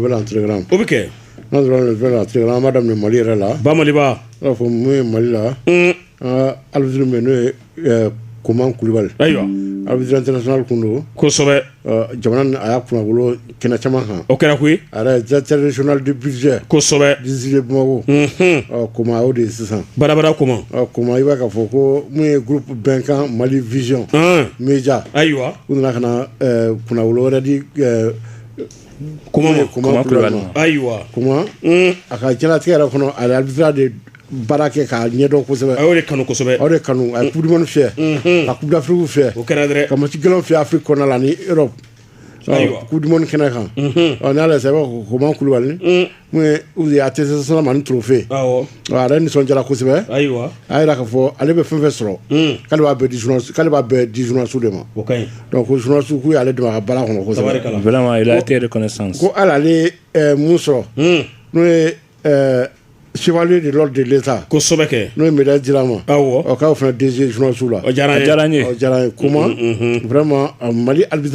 O bɛ telegram o bɛ kɛ n'a sɔrɔ telegram an b'a daminɛ mali yɛrɛ la ba i b'a fɔ mun ye mali la arbitre n'o ye koman kulubali ayiwa arbitre international tun don kosɛbɛ jamana a y'a kunnawolo kɛnɛ caman kan o kɛra koyi directeur régional du budget kosɛbɛ district bamako koman o de ye sisan barabara koman koman i b'a k'a fɔ ko mun ye groupe bɛnkan mali vision média ayiwa u nana ka kunnawolo wɛrɛ di ayiwa a ka jalatigɛ yɛrɛ kɔnɔ a de baara kɛ k'a ɲɛdɔn kosɛbɛ aw de kanu kosɛbɛ aw de kanu a ye kudimani fɛ a kudafiriw fɛ o kɛra dɛ ka mati gɛlɛn fɛ afiri kɔnɔna la ni yɔrɔ kudimani kɛnɛ kan n'ale sɛbɛn ko koman kulubali a tɛ se sira ma ni tufe yɛrɛ nisɔn jara kosɛbɛ a jira ka fɔ ale bɛ fɛn fɛn sɔrɔ k'ale'ale b'a bɛɛ dizunsiw de ma kosuku y'ale don a bala kɔnɔ ko ala mun sɔrɔ n'o ye suli de la de sa kosɛbɛkɛ n'o mi jira a ma aw'aw fana dezsiw la diyara ye kuma ma mali alibiz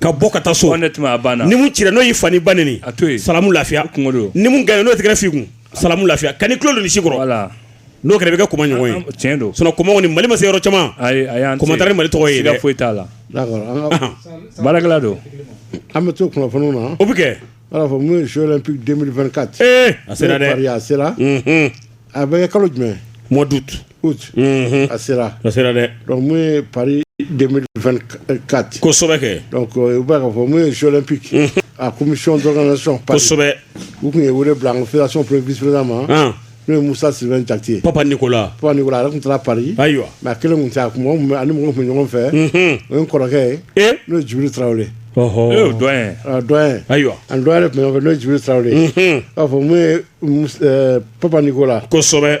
Ka bɔ ka taa so ni mun cira n'o y'i fa n'i ba neni salamu lafiya ni mun gagner n'o tɛgɛrɛ f'i kun salamu lafiya ka ni tulo don si kɔrɔ n'o kɛra i bɛ kɛ koman ɲɔgɔn ye tiɲɛ don sinon koman kɔni mali ma se yɔrɔ caman koman taara ni mali tɔgɔ ye siga foyi t'a la baarakɛla don an bɛ to kunnafoniw na o bɛ kɛ b'a fɔ n'o ye jeux olympiques 2024 a sera a bɛ kɛ kalo jumɛn mois d'août a sera a sera dɛ dɔnku ye pa kati kosɛbɛ kɛ u b'a ka fɔ ye sɛlɛ pp a ko sɔn dɔgɔ sɔn kosɛbɛ u tun ye wele bila an kola sɔn ppisila ma n'o ye musa si jatete pa ni ko la pa ko a tun taa pa ayiwa a kelen tun a ani mɔgɔ tun ɲɔgɔn fɛ o ye kɔrɔkɛ ye n'o juru tarawele ayiwa an dɔn yɛrɛ tun fɛ n'o juru tarawele b'a fɔ pap ni ko la kosɛbɛ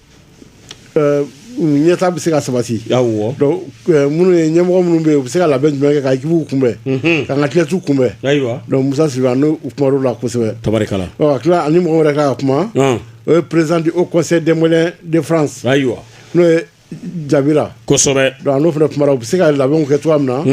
Euh, ɲɛta bɛ se ka sabati awɔ donc euh, minnu ye ɲɛmɔgɔ minnu bɛ yen u bɛ se ka labɛn jumɛn kɛ ka ekipuw kunbɛn mhm. k'an ka athlètew kunbɛn ayiwa donc musa sylvain n'u kumala kosɛbɛ tabarikala ɔ ka tila a ni mɔgɔ wɛrɛ ka kuma o ye président du haut conseil des maliens de france ayiwa n'o ye jabira kosɛbɛ donc n'o fana kumana u bɛ se ka labɛnw kɛ cogoya min na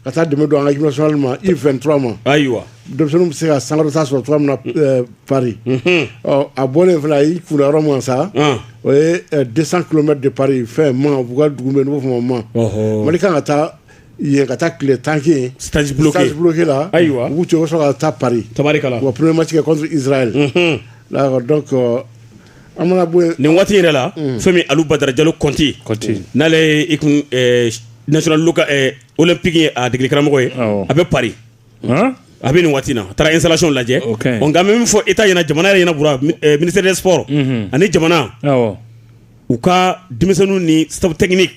ka taa dɛmɛ don an ka équipe nationale ma U 23 ma ayiwa denmisɛnninw bɛ se ka sankɔrɔta sɔrɔ cogoya min na ɛɛ Paris unhun ɔ a bɔlen fana a y'i kunda yɔrɔ min kan sa ɔn o ye ɛɛ 200 kilomètres de Paris fɛn Mans u ka dugu min bɛ yen n'u b'a fɔ o ma Mans ɔhɔ Mali kan ka taa yen ka taa tile tan kɛ yen stage bloqué stage bloqué la Ayiwa. u b'u to u bɛ sɔrɔ ka taa Paris tabarikala u ka premier match kɛ contre Israël unhun d'accord donc euh, nin waati yɛrɛ la fɛn min ali badara jalo kɔnti n'ale olu pki a degekaramɔgɔ ye a bɛ pa a bɛ nin waati na a taara izsalati lajɛ nka min fɔ e ta ɲɛna jamana yɛrɛ ɲɛna mini s ani jamana u ka denmisɛnnin ni sabup tɛini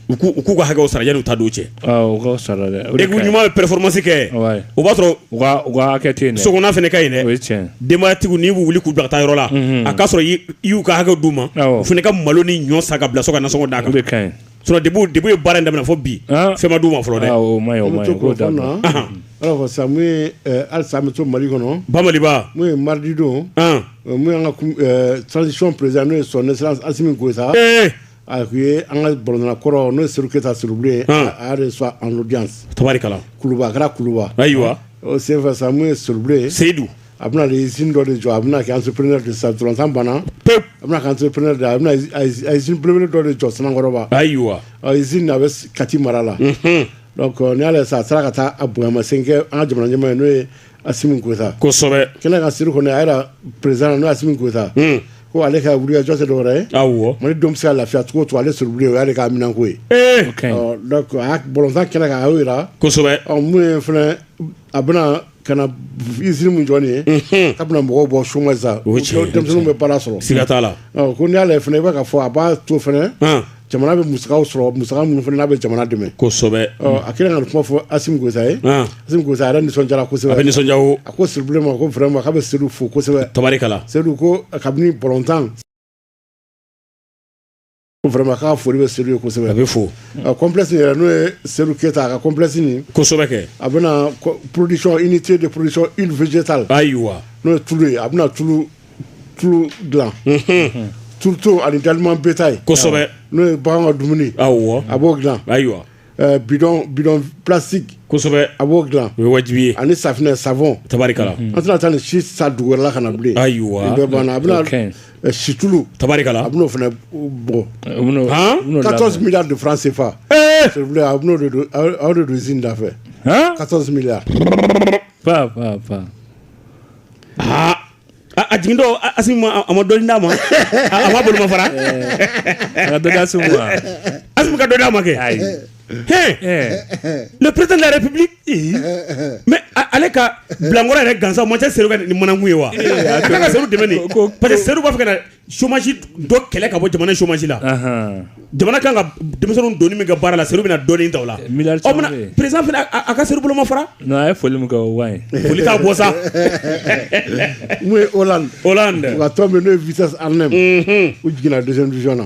u k'u ka hakɛ sara u ta don cɛ ɲuman ye poromasikɛ kɛ o b'a sɔrɔ so fana ka ɲi denbayatigiw n'i bɛ wuli k'u dagata yɔrɔ la a k'a sɔrɔ y'u ka hakɛ du ma o fana ka malo ni ɲɔ sa ka bila so ka so da kan ye baara daminɛ fɔ bi fɛnma ma fɔlɔ dɛ to mali kɔnɔ bamadidon ka sansisi perez n'o ye sɔ sa A tun ye an ka bɔla kɔrɔ n'o suru keyita surun ye tarikɛlakara kuluba ayiwa senfɛ sa ye suru ye seyidu a bɛna z dɔ de jɔ a bɛna kɛ an sop de sa dɔrɔntan banna pe a bɛna kan sop de a bɛnaelebele dɔ de jɔ sankɔrɔba ayiwa a bɛ kati mara la n' y'a sa a taara ka taa a bonyamasen kɛ an ka jamana ɲɛma ye n'o ye a simi kota kosɛbɛ kɛlɛ ka siri kɔnɔ a perez n'o simi kota ko ale ka wuli jɔse dɔw ye aw mali don bɛ lafiya cogo to ale siri ye ale ka minɛn ko ye bɔnsa kɛnɛ ka jira kosɛbɛ minnu fana a bɛna ka zsiri min jɔn ye a bɛna mɔgɔw bɔ soma sa denmisɛnnin bɛ bala sɔrɔ sigiiga t'a la ko n' y'a fana i b'a fɔ a b'a to fana jamana bɛ musa sɔrɔ mu minnu fana n'a bɛ jamana dɛmɛ kosɛbɛ a kira ka kuma fɔ asisa ye asisa a nisɔn kosɛbɛ a nisɔn a ko siri ma ko fɛrɛ ma' bɛ siri fo kosɛbɛ tari sedu ko kabini bɔntan fɛma k'a foli bɛ seli kosɛbɛ a bɛ fɔ kɔnlɛsi yɛrɛ n'o ye seli keyita a ka kɔnlɛsini kosɛbɛ kɛ a bɛna pdi i ni ce de psɔn i vta ayi wa n'o ye tulu ye a bɛna tulu tulu dilan surtout ani d'aliment bétail kosɛbɛ n'o ye bagan ka dumuni awɔ a b'o dilan ayiwa bidɔn bidɔn plastique kosɛbɛ a b'o dilan o ye wajibi ye ani safinɛ savon tabarikala an tɛna taa ni si sa dugu wɛrɛ la ka na bilen ayiwa nin bɛɛ banna a bɛna situlu tabarikala a bɛna o fana bɔ han 14 milliards de francs CFA s'il vous plaît a bɛna o de don aw de don usine da fɛ 14 milliards pa pa pa aa A jigin dɔn a a ma dɔn d'a ma a ma bolo fara a dɔda segu a ka dɔn d'a ma kɛ ayi ne pte yɛrɛ pbi mɛ ale ka bilankɔrɔ yɛrɛ gansa ma tɛ se ni manakun ye wa a ka se tɛmɛn pa se b'a fɛ chômage dɔ kɛlɛ ka bɔ jamana chômage la jamana kan ka denmisɛnninw donni min kɛ baara la Serhou bɛna dɔɔnin ta o la président fana a ka Serhou bolomafara non a ye foli min kɛ o man ɲi foli t'a bɔ sa mun ye Hollande Hollande u ka tɔn min n'o ye Vitesse Arnhem u jiginna deuxième division na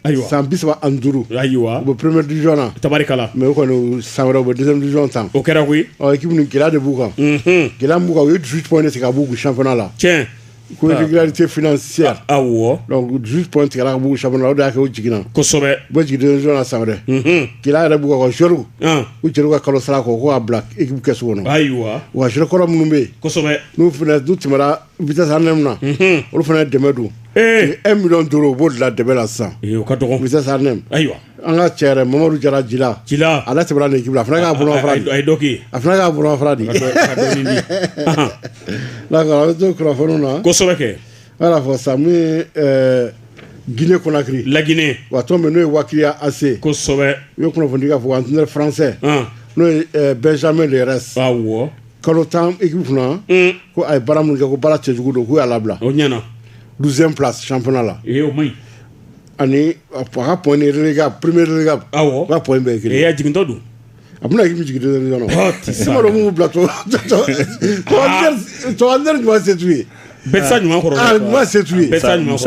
ayiwa san bi saba ani duuru ayiwa u bɛ première division na tabarikala mais u kɔni san wɛrɛ u bɛ deuxième division tan o kɛra koyi ɔ équipe nin gɛlɛya de b'u kan gɛlɛya min b'u kan u ye 18 points de tigɛ ka b'u kun championnat la tiɲɛ Ko tɛ fsi aw wɔ dusu tun tigɛ b'u sa aw y'a kɛ jiginna kosɛbɛ bɛ jigin sɔnna sa wɛrɛ g yɛrɛ b ka sro u cɛ ka kalo sara ko ko' bila i kɛ so kɔnɔ ayiwa wa skɔrɔ minnu bɛ yensɛbɛ n'u fana du tɛm bi ne min na olu fana dɛmɛ don e mi duuru u b'o la dɛmɛ la sisan ka dɔgɔsa ne ayiwa An ka cɛ yɛrɛ Mamadou Diarra Djila, Djila, ale tɛmɛna nin équipe la, a fana ka bolomafara di, a ye dɔ k'i ye, a fana ka bolomafara di, ka dɔɔnin di, anhan, d'accord an bɛ to kunnafoniw na, kosɛbɛ kɛ, an y'a fɔ sisan mun ye ɛɛ Guinée Conakry, La Guinée, wa tɔn min n'o ye Wakriya AC, kosɛbɛ, u ye kunnafoni di k'a fɔ entraîneur français ɔn, n'o ye ɛɛ Benjamin Leres, awɔ, kalo 10 équipe kunna, un, ko a ye baara minnu kɛ ko baara cɛjugu don k'u y'a labila, o ɲɛna, 12 ème place championnat la, ee o man ɲi Ani a ka point ni relégable premier relégable ka point bɛɛ ye kelen ye a jigintɔ don a bɛna équipe jigin kɔnɔ minnu bila to ɲuman se t'u ye bɛɛ tɛ se ɲuman kɔrɔ ɲuman se t'u ye ɲuman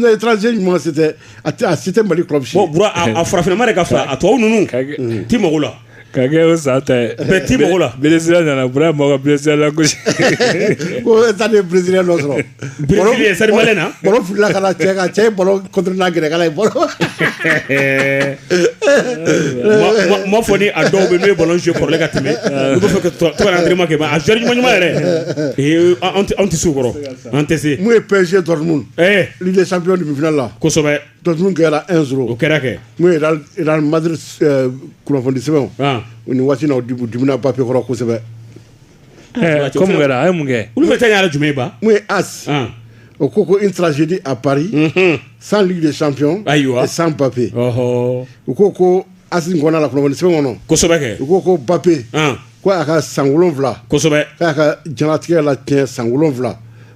dɛ étranger ɲuman se tɛ a tɛ a se tɛ Mali club si farafinna de ka fila a tubabu ninnu tɛ mako la Ka kɛ o sa ta ye bɛɛ tɛ mɔgɔ la Brésilien nana b mɔgɔ Brésilien la gosi taa ni Brésilien dɔ sɔrɔ seri na fila ka cɛ ka cɛ n'a gɛrɛ ye bɔ ma fɔ ni a dɔw bɛ n' ballon jouer kɔrɔlen ka tɛmɛ u fɛ ka entraînement kɛ mais a joueur ɲuman ɲuman yɛrɛ anw tɛ se o kɔrɔ an tɛ se mun ye PSG Dortmund Ligue des champions demi-finale la kosɛbɛ Dortmund gagnera 1-0 o kɛra kɛ mun ye Madrid kunnafonidi sɛbɛnw ni waati na u dimina Mbappé kɔrɔ kosɛbɛ kosɛbɛ a ye mun kɛ olu bɛ taa jumɛn ban mun ye AS o ko ko une tragédie à Paris sans Ligue des champions ayiwa sans Mbappé u ko ko AS kɔnɔna la kunnafoni sɛbɛn kɔnɔ kosɛbɛ u ko ko Mbappé ko a ka san wolonwula kosɛbɛ k'a ka jigitigɛ la tiɲɛ san wolonwula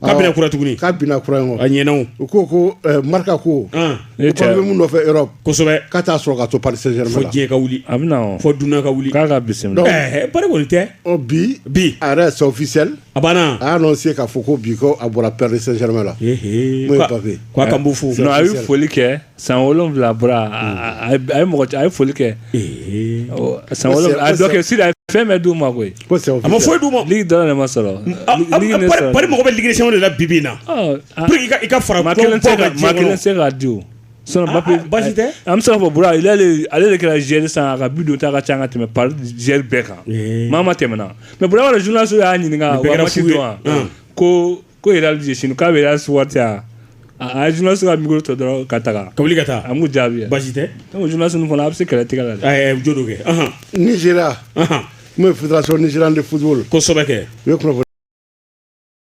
K'a binna kura tuguni k'a binna kura ye a ɲɛna awɔ u ko ko eh, Marca ko Mbappé bɛ min nɔfɛ Europe kosɛbɛ k'a t'a sɔrɔ ka to Paris Saint-Germain fo diɲɛ ka wuli a bɛ fɔ dunan ka wuli k'a ka bisimila eh, Paris kɔni tɛ bi bi a yɛrɛ c'est officiel a banna a y'a annoncer k'a fɔ ko bi a bɔra Paris Saint-Germain la k'a ka fo a ye foli kɛ san wolonwula bɔra a ye mɔgɔ a ye foli kɛ san dɔ kɛ sira a fɛn bɛɛ d'u ma koyi a ma foyi d'u ma ligue dɔrɔn de ma sɔrɔ Paris mɔgɔ bɛ ligue des champions de la bi bi in na i ka fara kelen se k'a di basi tɛ an bɛ se k'a fɔ Bura ale de kɛra joueur san a ka bi donta ka ca ka tɛmɛ Paris joueur bɛɛ kan maa maa tɛmɛna mais Bura journaliste y'a ɲininka ko ko yɛrɛ aliz sini k'a bɛ su a jna se ka mi to dɔrɔn ka taga ka wuli ka taa an jaabi basi tɛ jna sun fana a bɛ se kɛlɛ tigɛ la dɛ jo kɛ ni sera n ye fudasɔn ni siran de fudu kosɛbɛ kɛ